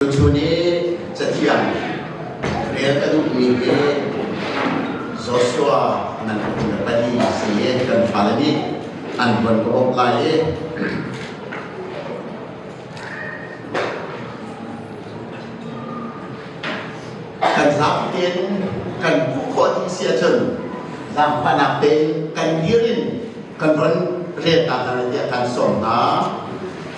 Tuchun i cathiang rel ka duhmi hi Joshua nan le pali si i kan fale nih an tuan ka rawp lai i kan zaam tein kan hmuh khawh ding si ahcun zaangfahnak tein kan dir in kan von riak hna hna tiah kan sawm hna.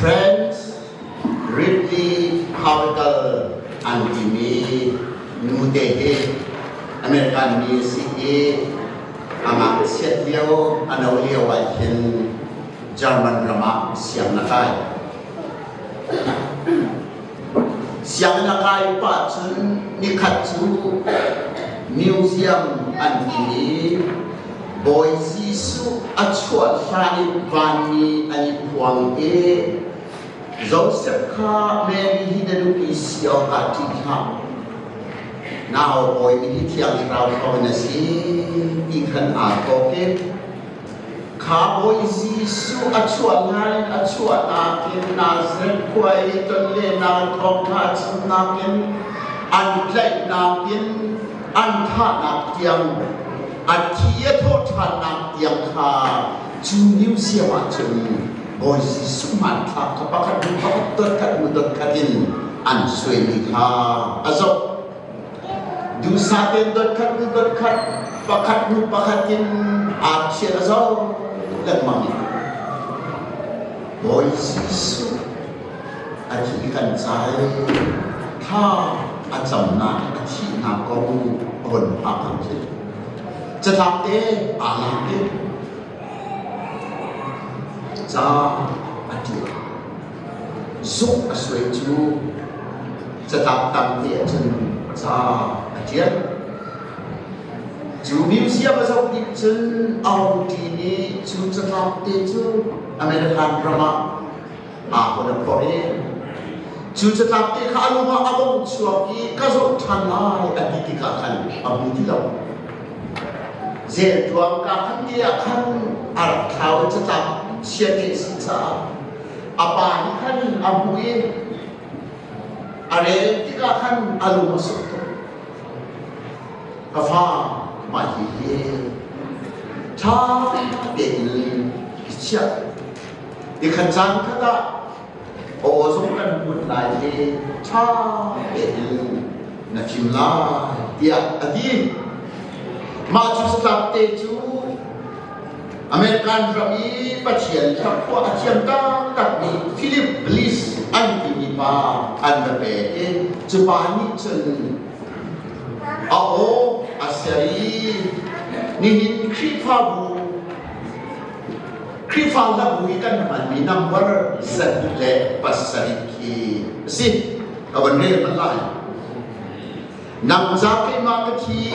French Ridley Powell an timi nute hi American mi a si i a ngakchiat lio a no lio ahhin German ram ah siang na kai. Sianginn a kai pa cu nikhat cu museum an ti i Bawi Jesuh a chuah hlan in vanmi an i phuang i Joseph kha Mary hi na duh i si awkah ṭih hlah. Nau Bawi mi hi Thiang Thlarau thawng in a si ti khan aa thawk i Kha Bawi Jesuh a chuah hna in a chuahnak in Nazareth khua i tonlennak thawng hna chimnak in an tlaihnak in an thahnak tiang a thi i a thawh ṭhannak tiang kha cu museum ah cun Bawi Jesuh hmanthlak kha pakhat hnu pakhat dotkhat hnu dotkhat in an suaimi kha a zoh. Duhsah tein dotkhat hnu dotkhat, pakhat hnu pakhat in aa thial a zau lengmang. Bawi Jesuh a thi kan cai. Thla a camnak, a thihnak kong von hngak an si. Catlap te aa lak i ca a ṭial. Zuk a suai cu catangtang teah cun ca a ṭial. Cu museum a zoh ning cun a hung ṭin i cu catlap te cu American ram ah aa hun a phorh i cu catlap te kha a lungah a vung chuak i ka zoh ṭhan lai a ti tikah khan a hmu ti lo. Zelṭuang kaa khan te ah khan a rak thlau i catlap chiate a si caah a pa nih khan a hmuh i a rel tikah khan a lung a sung tuk ka fa mah hi ṭha tein i chiah i khan caan khat ah aw zong kan hmuh lai i ṭha tein na fim lai tiah a ti mah cu satlak te cu American ram i Pathian i a khua a thiam taktakmi Philip Bliss an timi pa an va pek i cupa nih cun a aw a ser i nihin Khrihfabu Khrihfa Labu i kan hmanmi number zarih le pasarih khi a si. Ka van rel bal lai. Nang ca keimah ka thi,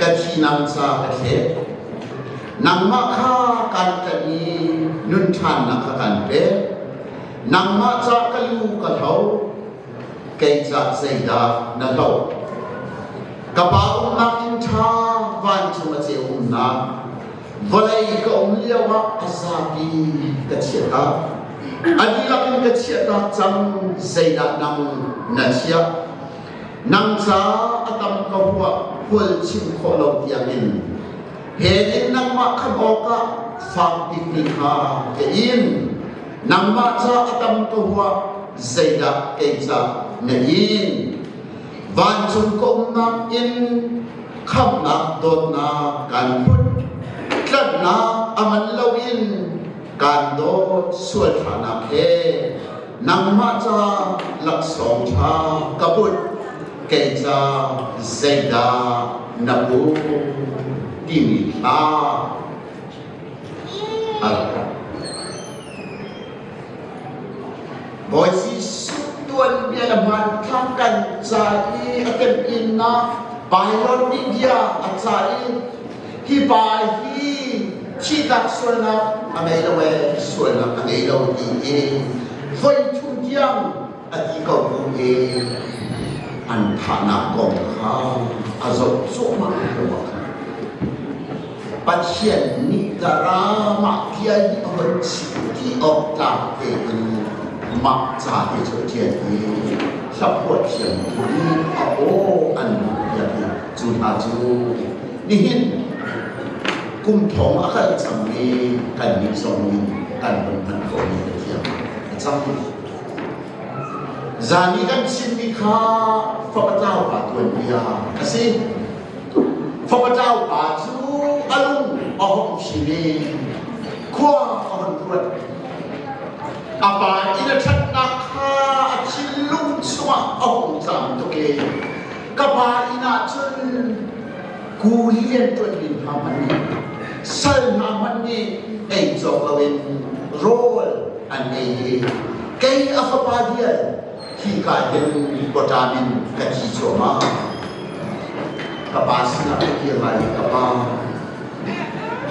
ka thinang ca ka thlek. Nangmah kha kan kan i nun ṭhannak kha kan pek. Nangmah ca ka lu ka tho, kei ca zeidah na hlo? Ka Pa umnak inn ṭha vancung a ceu umnak Vawlei ka um lio ah a zapi in ka chiah hna. A dihlak in ka chiah hna cang zeidah nang na chiah? Nang ca a tam ka hua hual chim khawh lo tiangin he ning nangmah khan awkah fak bikmi kha ka in. Nangmah ca a tam ka hua zeidah kei ca na in? Vancung ka umnak in khamnak dawtnak kan put tlanhnak aman loin kan dawt sual thanak he nangmah ca laksawng ṭha ka put kei ca zeidah na bu timi hla Amen. Bawi Jesuh tuanbia le hmanthlak kan ca i a temhinnak Baibal media a ca i hi pa hi thihnak sualnak a ngei lo ee sualnak a ngei lo ti hi voithum tiang a iko bu i an thahnak kong kha a zoh cuahmah ruang Pathian nih ka ramah tial i hon chim ti awk tlak tein mah ca te cu thian i hlaphuat thiam tu i a aw an piak i cu hna cu nihin kum thong a kal cang i kan nih zong in kan hun hman ko mi a thiam a cang Zan i kan chimmi kha fapataupa tuanbia a si. Fapataupa cu a lung a hong chin i khua a hon ruat. A pa inn a ṭhatnak kha a thinlung chungah a hung tlam tuk i ka pa inn ah cun kuli rianṭuan ding hna hmanh nih sal hna hmanh nih ei cawk loin rawl an ei i kei a fapa dial hi ka hin lipotam in ka thi cuahmah ka pa sinah ka kir lai ka pa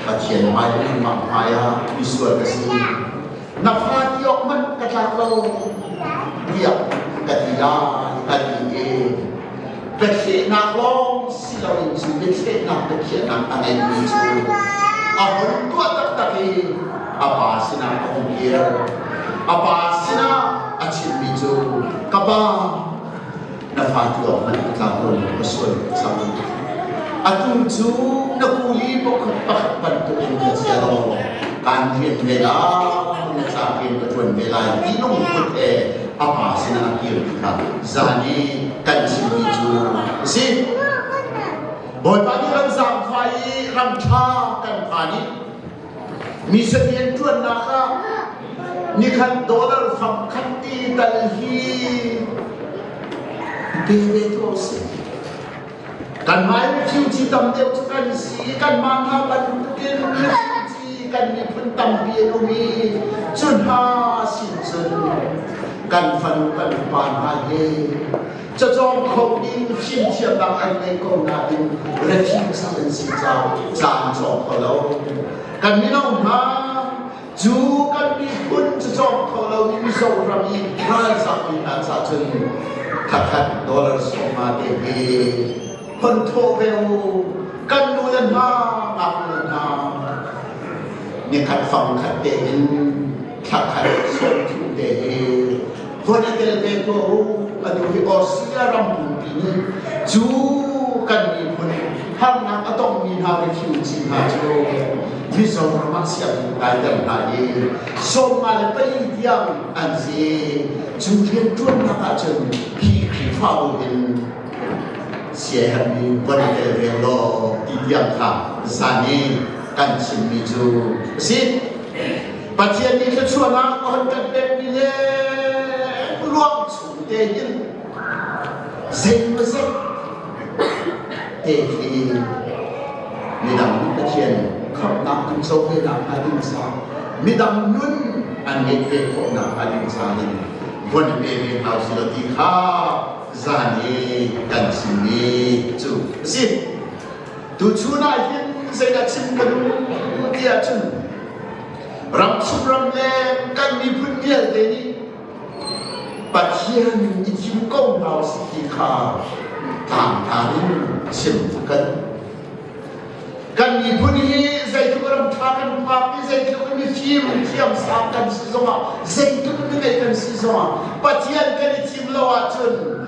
Pathian hmai le nungmah hmai ah misual ka si na fa tiawk man ka tlak lo tiah ka ti ah ka ti i biachehnak lawng si loin cu biachehnak biakhiahnak a ngeimi cu a hun tuah taktak i a pa sinah a hung kir a pa sinah a chimmi cu ka pa na hlat lawngmanh a tlau lo ning a sual cang. Atu cu na kuli pakhat pakhat bantuk in na cia law kan rian ve lai cak in ka tuan ve lai ti lungput he a pa sinah a kir kha zan i kan chim mi cu a si. Bawipa nih ram zaangfai i ram ṭha kan phan i Mi salian ṭuannak ah nikhat dollar fak khat ti tal hi pe ve tu a si. Kanmah refugee tam deuh cu kan si, kanmah hna bantukin refugee kan miphun tampi an um i cu hna sin cun kan fanu kan pa hna he cacawng kho in fimthiamnak an ngei ko nain refusal in si caan cawng kho lo kan mino hna cu kan miphun cu cawng kho lo in zoram i ralzam mi hna ca cun thakhat dollar sawma te hi hon thawh ve u kan nu le hna ngaknu hna ni khat fang khat te in thlakhat sawmthu te hi huat a tel te tuah u atu hi Austria ram pumpi nih cu kan miphun harnak a tongmi hna vai thil ci hna cu Mizoram ah sianginn kai tel hna i sawmnga le pei tiang an si cu rianṭuannak ahcun hi Khrihfa in siaherhmi von i tel ve law ti tiang kha zan i kan chimmi cu a si. Pathian nih thluachuahnak a hun kan pekmi le ruang chung tein zeimawzat te khi midang nih Pathian khamhnak in co venak hnga ding sa midang nun an ngeih ve khawhnak hnga ding sa in von i pe ve hna usih law ti kha zan i kan chim ni cu a si. Tuchun ah hin zeidah chim ka duh ti ahcun ramchung ramleng kan miphun vialte nih Pathian i thim ko hna usih ti kha tangtan in chim a kan. Kan miphun hi zeitluk ram ṭha kan phak i zeitluk in mifim thiamsang kan si zongah zeitluk in mi ngei kan si zongah Pathian kan i thim lo ahcun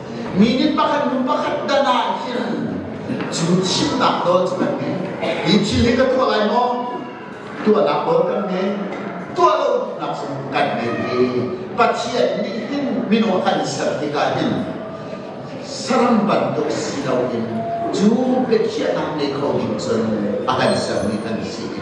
Mi nih pakhat hnu pakhat dana an khil. Cu thimnak dol cu kan ngei. Hi thil hi kan tuah lai maw? Tuahnak dol kan ngei. Tuah lonak zong kan ngei i Pathian nih hin minung kan ser tikah hin saram bantuk si loin cu biakhiahnak ngei kho ding cun a kan sermi kan si i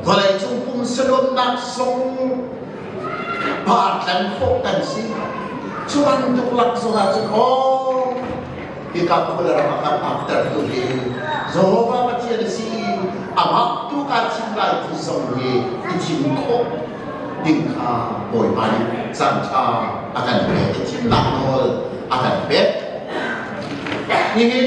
Vawleicung pum saluatnak zong pa tleng khawh kan si. Cu bantuk lak zong ahcun aw hika pawle ram ah kan akter tu hi Jehovah Pathian si i amah tu kaa thim lai ti zong hi i thim khawh ding kha Bawipa nih caan ṭha a kan pek i thimnak nawl a kan pek. Nihin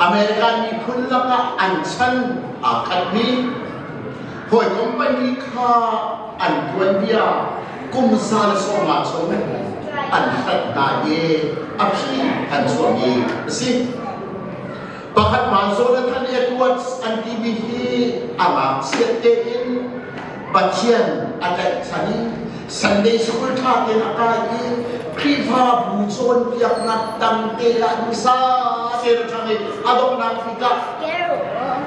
American miphun lakah an chan aa khatmi hawikom pahnih kha an tuanbia kum za le sawmnga chung in an hlanh hna i a phi an chuahmi a si. Pakhatmah Jonathan Edwards an timi hi a ngakchiat tein Pathian a tlaihchan i Sunday school ṭha tein a kai i Khrihfabu cawnpiaknak tangte ah dusa tein a ṭang i a donghnak tikah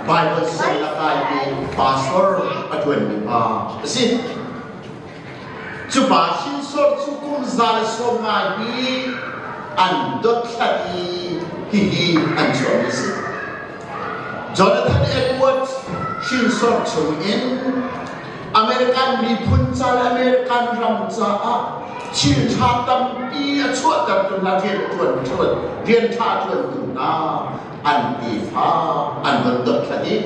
Bible sal a kai i pastor a ṭuanmi pa a si. Cu pa Shinsor cu kum za le sawm ngai hi an dothlat i hihi an chuahmi a si. Jonathan Edwards hrinsor chungin American miphun ca le American ram caah thiltha tampi a chuahtertu hna rian ṭuan ṭuan rian ṭha ṭuantu hna an tefa an von dothlat i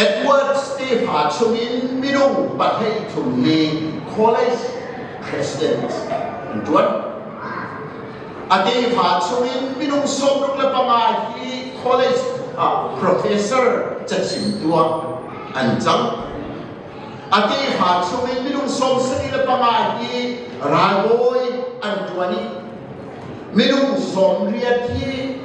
Edwards tefa chungin minung pathei thum hi college president an ṭuan. a tefa chungin minung sawmruk le panga hi college ah professor cachim tuah an cang a tefa chungin minung sawmsari le panga hi ralbawi an tuan i minung sawmriat hi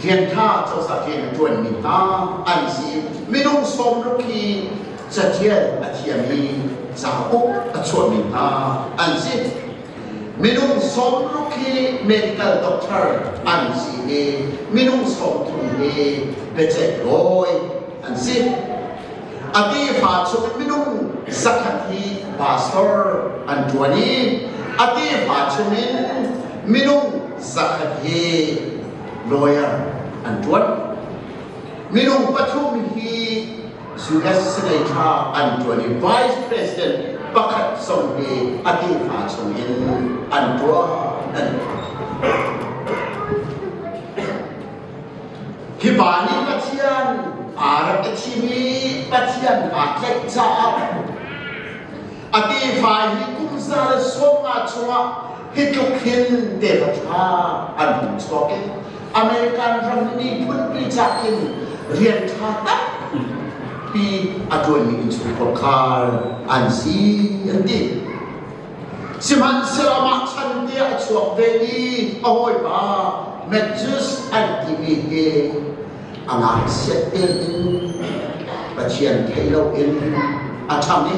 rianṭha cozah rian a ṭuanmi hna an si minung sawmruk hi cathial a thiam i cauk a chuahmi hna an si Minung sawmruk hi medical doctor an si i minung sawmthum hi biaceihdawi an si. A tefa chung minung zakhat hi pastor an ṭuan i a tefa chungin minung zakhat hi lawyer an ṭuan. Minung pathum hi US Senate thla an ṭuan i Vice President pakhat zong hi a tefa chungin an ṭuan an Hi pa nih Pathian aa rak i thim i Pathian aa tlaih caah a tefa hi kum za le sawmnga chungah hi tluk hin tefa ṭha an hung chuak i American ram miphunpi cah in rian ṭha tampi a ṭuanmi innchungkhar khar an si an ti. Sihmanhsehlaw mah chan tiah a chuak ve i a hawipa Matthews an timi hi a ngakchiat tel in Pathian thei loin a ṭhang i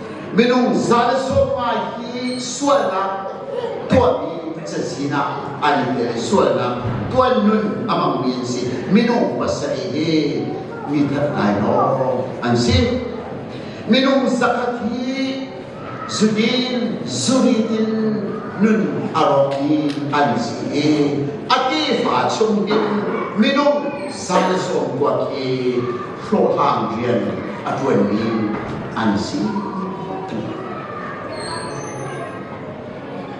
minung za le sawmngai hi sualnak tuahmi cazin ah an i tel sualnak tuan nun a mangmi an si minung pasarih hi mi that ngai lawng an si minung zakhat hi zudin zuritin nun a rawkmi an si i a tefa chung in minung zan sawm kuak hi hlawhhlang rian a ṭuanmi an si.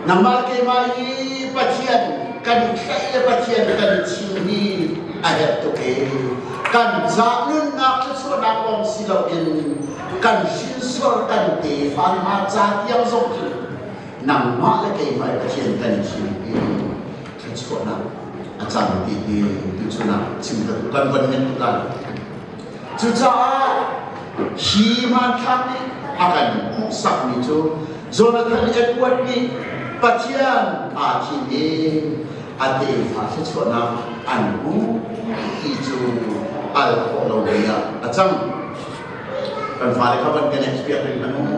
Nangmah keimah i Pathian kan tlaih le Pathian kan chim hi a herh tuk e. Kan zah nunnak thluachuahnak lawng si loin kan hrinsuar kan tefa hna ca tiang zong hi nangmah le keimah Pathian kan thim i thluachuahnak a cang ti hi tucu nak chim ka duh kan von hnem tukan cucaah hi manthlak nih a kan hmuhsak mi cu Jonathan Edward nih Pathian aa thim i a tefa thluachuahnak an hmu ti cu al khawh lo mi ah a cang kan fale kha van kan experience an hmu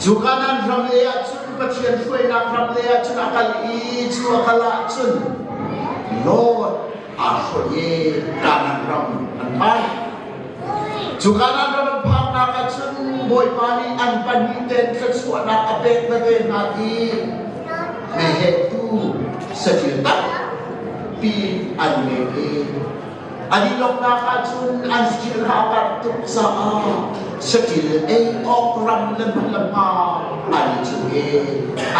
Cu kanan ram le ahcun Pathian hruainak ram le ahcun a kal i cu a kal ahcun Lord aa hruai i kanan ram an phan. Cu kanan ram an phannak ahcun Bawipa nih an pahnih ten thluachuahnak a pek veve hna i mehehtu saṭil takpi an ngei i An i lawmhnak ahcun an thilra a panh tuk caah saṭil ei awk ram le hmun le pa ai cung i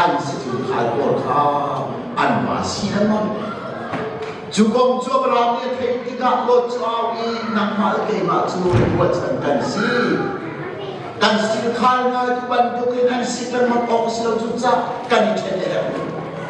an saṭil khal pawl kha an pa si lengmang. Cu kong cu a rang i a theih tikah Lot cu au i nangmah le keimah cu ruahchan kan si. Kan sir khal ngai tu bantuk in an si lengmang awk a si lo cucaah kan i ṭhen a herh rih.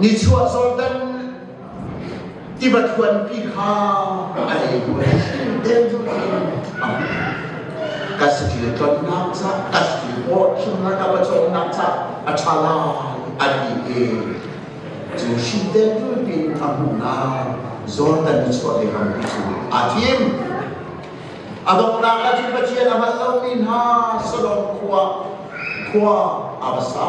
Nichuah Jordan tiva thuanpi kha a ei buai den cu ka satil tonnak ca ka satil awh himnak a pacawmnak ca a ṭha lai a ti i cu hrinden tulpin a hmuhnak Jordan nichuah le rampi cu aa thim. A donghnak ah cu Pathian a hngalh lomi hna Sodom khua khua a va sa.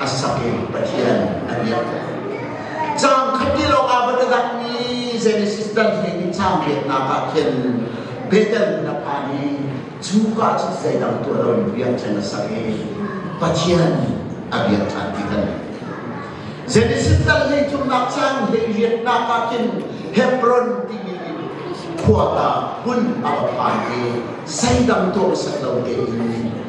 a sak in Pathian a biak. Caang khat ti lawngah va dah Genesis tan hi caang peknak ah khin Bethel hna pa nih cuka cu zeidang tuah lo in biakṭheng a sak i Pathian a biak ṭhan ti kan Genesis tal hi cu ngakchang hlei riatnak ah khin Hebron timi khua ta hmun a va phan i seidang tuak sak lo te in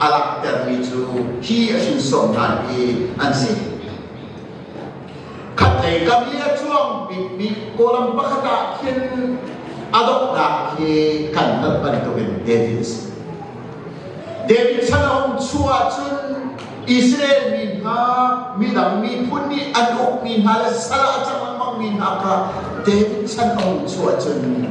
a langhtermi cu hi a hrinsawm hna hi an si. Khatlei kam i a cuang bikmi kawlam pakhat ah khin a donghnak khi kan tat bantukin David a si. David chan a um chung ahcun Israel mi hna midang miphun nih an ukmi hna le sal ah a cang lengmangmi hna kha David chan a um chung ahcun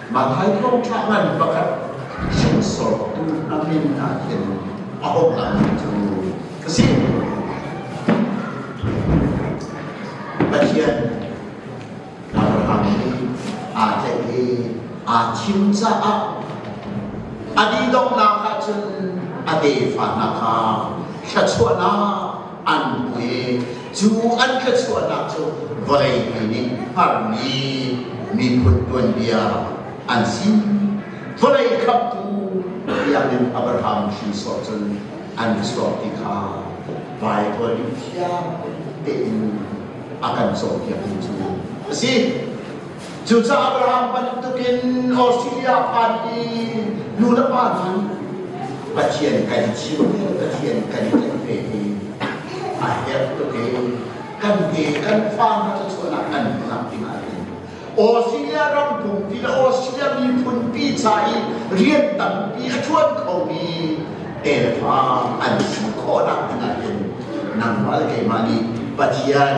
Mang'hai thongtla ngan pakhat hrinsawrtu a min ah hin a hung lang cu ka si. Pathian Abraham nih aa tlaih i aa thim caah a dihdonghnak ahcun a tefa hna kha thluachuahnak an pek cu an thluachuahnak cu vawleipi nih harmi miphun tuanbia an si vawlei khamtu biakinn Abraham hrinsawh cun an chuak ti kha Baibal nih fiang tein a kan cawnpiak hi cu a si Cucaah Abraham bantukin Australia pan i nu le pa cu Pathian kan i thim le Pathian kan i tlaih ve i a herh tuk i kan te kan fa hna cuchuahnak kan hmuhnak dingah hin Australia ram pumpi le Australia miphun pi ca i rian tampi a ṭuan khomi tefa an si khawhnak dingah hin nangmah le keimah nih Pathian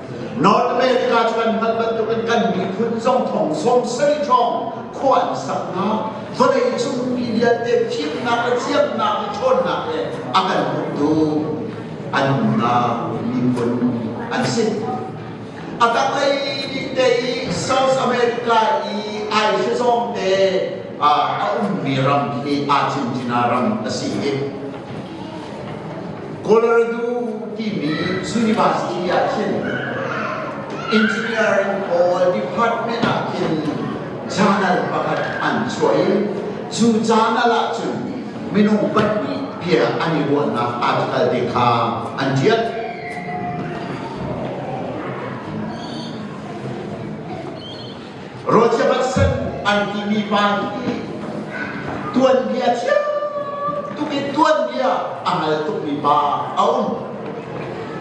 North America cu an hngalh bantukin kan miphun zong thong sawm sarih hrawng khua an sak hna. Vawlei cung mi vialte thimnak le thiamnak i ṭhawnnak he a kan umtu an umnak miphun an si. A tanglei dite i South America i aihri zongte a ummi ram khi aa cincina ram a si i Golaridu timi university ah khin engineering pawl department ah khin journal pakhat an chuah i cu journal ah cun minung pahnih bia an i ruahnak article te kha an ṭial. Ruathiam ah san an timi pa nih tuanbia thiam tuk in tuanbia a ngal tukmi pa a um.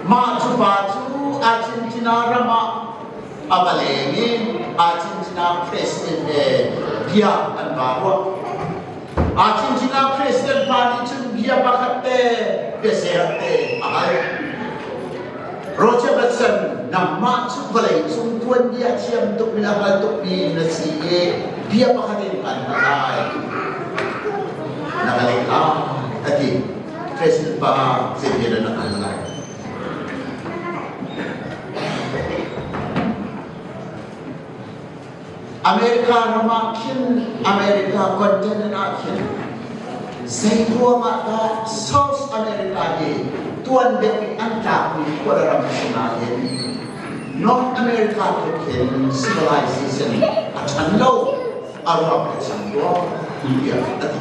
Mah cu pa cu Argentina ram ah a va leng i Argentina president he bia an va ruah. Acung sinah President pa nih cun bia pakhat te biaser te a hal. Roger Batson nangmah cu vawlei cung tuanbia thiam tuk in a hal tukmi na si i bia pakhat in kan hal lai. Na hal lai a ti. President pa zebian na hal lai. America ram ah khin America continent ah khin zeikuam ah dah South America hi tuan deuh in an tlakmi khua le ram si nain North America te khin civilization a ṭhan lo a ruak a chang tuah tiah a ti.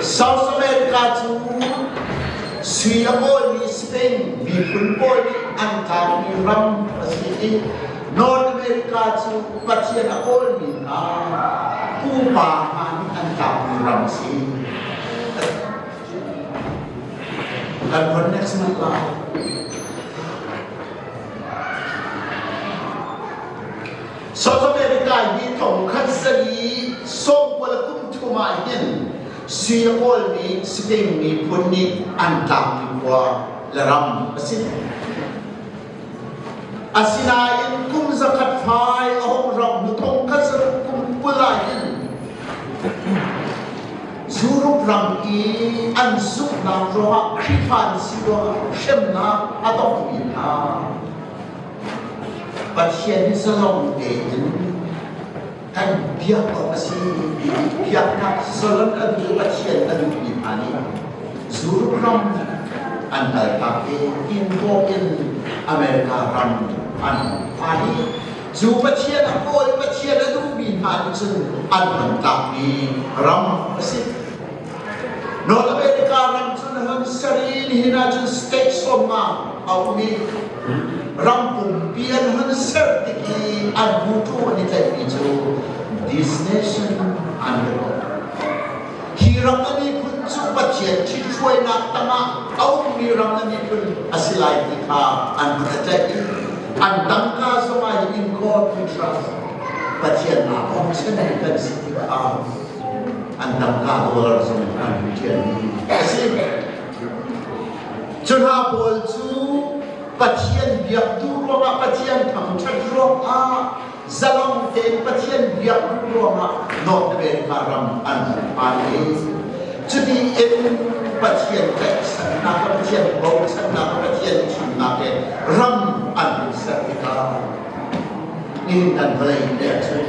South America cu sui a bawimi Spain miphun pawl nih an tlakmi ram a si i North America cu Pathian a kawlmi hna pupa hna nih an tlakmi ram a si. Kan von next month lai. South America hi thong khan sali sawmkua le kum thum ah hin Singapore mi Spain mi phun nih an tlangmi khua le ram a si. Asinain kum zakhat fai a hong ram hnu thong khat saruk kum kul ah hin Zurup ram i an zuknak ruangah Khrihfa an si ruangah hremnak a tongmi hna Pathian zalong tein an biak awk a si ti piaknak zalon an tu Pathian a duhmi hna nih zurram an kaltak i India in America ram an phan i cu Pathian a kawl Pathian a duhmi hna nih cun an hman tlakmi ram a si. Nawl America ram cu na hun ser i nihin ah cun state sawmma a um i ram pumpi an hun ser tik i an mutu an i tlaihmi cu this nation an ram. Hi ram a miphun cu Pathian ṭhithruainak tangah a ummi ram a miphun a si lai ti kha an hun i tlaih i an tangka zong ah in God we trust Pathian naa awm sen kan si ti kha an tangka dollar zong in an thian a si cu hna pawl cu pathian biaktu ruangah pathian thangṭhat ruangah zalang tein pathian biaktu ruangah northern kha ram an phan i cuti in pathian tlaihchannak le pathian bochannak le pathian chimnak he ram an ser tikah in an vawlei pekchun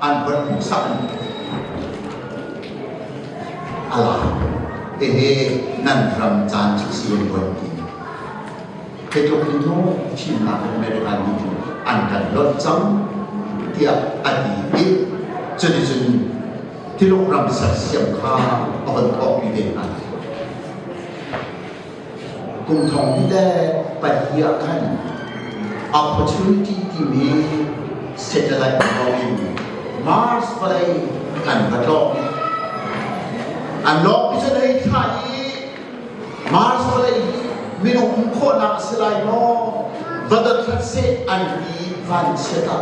an van hmuhsak mi ala tehe nan ram caan cu si an buan ti he tluk in nu thimnak American nih cun an kan lonh cang tiah a ti i cuticun tiluk ram sersiam kha a von thawkpi te hna kumthong te pahnih ah khan opportunity timi satellite in Mars vawlei kan va tlawng an lawng pisan hei tha i Mars vawlei minung khawhnak a si lai maw vadathat se an i van se ta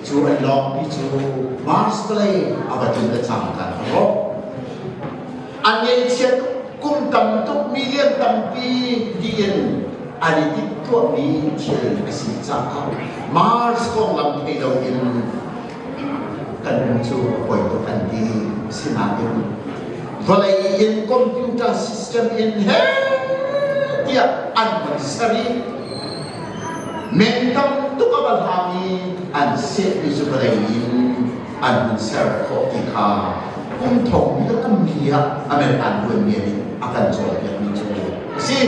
cu an lawng pi cu Mars vawlei a va tin le cang kan ro a ngeihchiat kum tam tuk million tampi dien an i timhtuahmi thil a si caah Mars konglam thei loin kan nu cu poi tuk an ti sinain vawlei in computer system in he tiah an van ser i men tam tuk a va hlam i an sehmi cu vawlei in an hun ser khawh ti kha kum thong le kum li ah Amen aan buaimi nih a kan cawnpiakmi cu a si.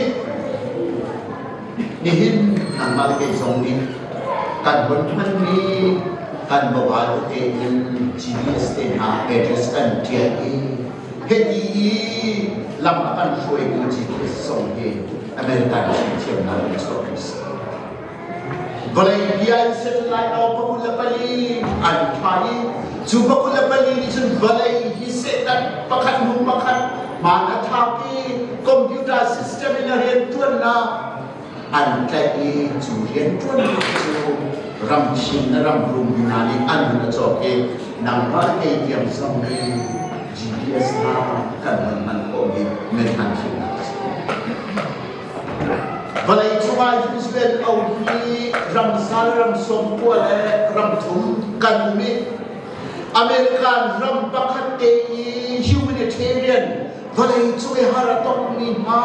Nihin nangmah le kei zong nih kan hun ṭuanmi kan mobile te in GDS te hna address kan ṭial i hiti i lam a kan hruaitu GDS zong hi Amen kan thiamnak in chuah kan si. Vawlei bia in set lai lo pakul le pali an tha i cu pakul le pali nih cun vawlei hi Satan pakhat hnu pakhat man a thap i computer system in a rian tuannak an tlaih i cu rian tuannak cu ramkhing le ramrum hna nih an hun a cawk i nangmah kei tiang zong nih GPS hna kan hman hman khawh mi methanh hrinnak a si. Vawlei cung ah Israel um hi ram sal, ram sawm kual le ram thum kan um i American ram pakhat te i humanitarian vawlei cung i har a tongmi hna,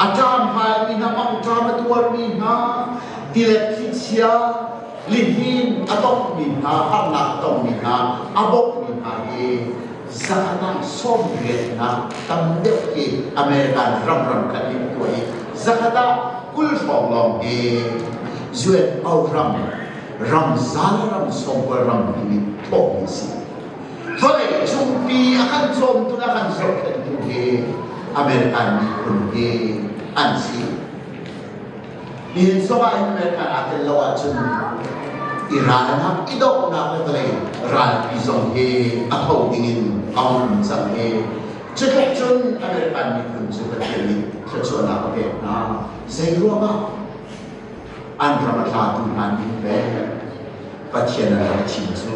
a ṭam haimi hna, mangṭam a tuarmi hna, tilet thlichia, lihnin a tongmi hna, harnak a tongmi hna, a bawmhmi hna hi zan ah sawmrialnak tam deuh hi American ramram kan in tuah i zakhat ah kul hrawng lawng hi UNO ram ram zal ram sawmkual ram hi nih thawhmi a si vawleicung pi a kan cawmtu le a kan zohkhenhtu hi American miphun hi an si Inn chungah hin nan kan aa tel lo ahcun i ralnak i donghnak le vawlei ralpi zong hi a tho dingin a um cang hi cutlei cun American miphun cu Pathian nih thluachuahnak a pek hna zeiruangah an ram a tlatu hna nih le Pathian an rak thim cu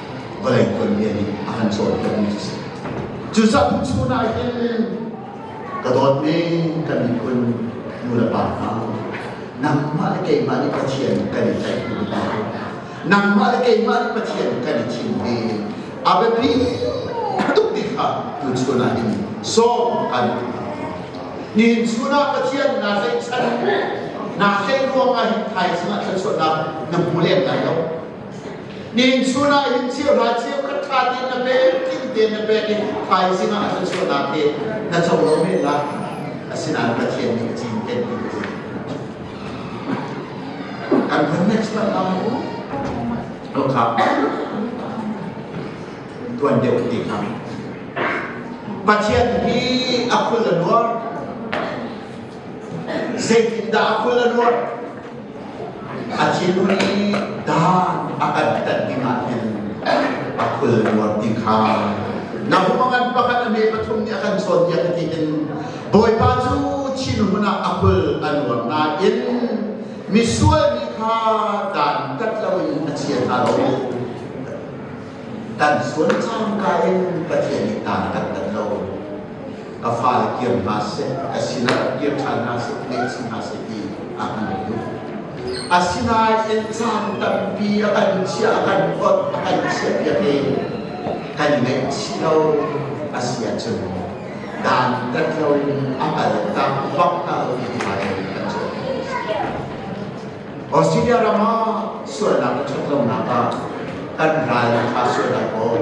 vawlei tuanbia nih a kan cawnpiakmi a si. Cu cang chun ah hin ka dawtmi kan miphun nu le pa hna nangmah le keimah nih Pathian kan i tlaih hnu hna nangmah le keimah nih Pathian kan i thim hi a biapi ka tukmi kha tu chun ah hin sawm kan nihin chun ah Pathian naa tlaihchan naa tlaih ruang ah hin thaizing ah thluachuahnak na hmu lem lai lo Ningchun ah hin cheu hla cheu kan ṭha te na pek tling te na pek i thaizing ah a thluachuahnak he na co lo men la asinain Pathian nih cinken in And the next one now will come. Tuan deuh ti kami. Pathian hi akul a nuar. Zeitin dah akul a nuar? A thinu nih dan a kan tat ding ah hin a khul nuar ding kha na hum a ngan pakhat a hme pathum nih a kan sawn tiah ka ti in Bawipa cu thinhun hmanah a khul a nuar nain misual mi kha dan tat lo in a chia hna lo kan sual cangka in Pathian nih dan kan tat lo ka fale kiam hna seh, ka sinah kir ṭhan hna seh, ngeihchih hna seh ti a kan duh. Asinain caan tampi a kan chiah, a kan hlawt, a kan chiahpiak i kan ngaihchih lo a si ahcun dantat loin a kaltak fakta loin hmai kan cuan. Australia ram ah sualnak a ṭhat lonak ah kan ral kha sualnak kawl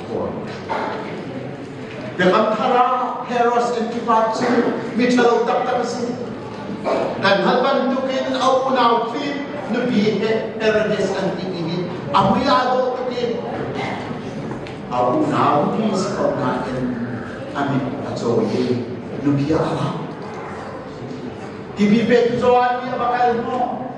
Biakam thar ah Herods Antipas cu miṭhalo taktak a si. Kan hngalh bantuk in a unau phi nupi he Herodes an ti i a mui aa dawh tuk in a unau ti si ko nain a mit a cawi i nupi a ra. Tibi pe cu zuan mi a va kal maw?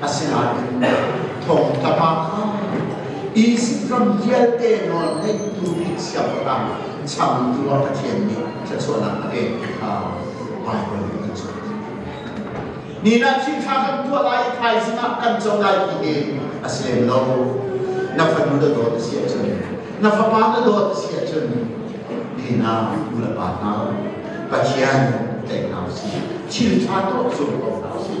Asinain thawngtha pa kha Izipt ram vialte nawl ngeitu nih siangpahrang changtu a Pathian nih thluachuahnak a pek ti kha Baibal nih an cawn. Ninak thilṭha kan tuah lai i thaizing ah kan co lai ti hi a si lem lo. Na fanu na dawt a si ahcun, na fapa na dawt a si ahcun, ninak nulepa hna, Pathian tlaih hna u sih. Thilṭha tuah zumh ko hna u sih.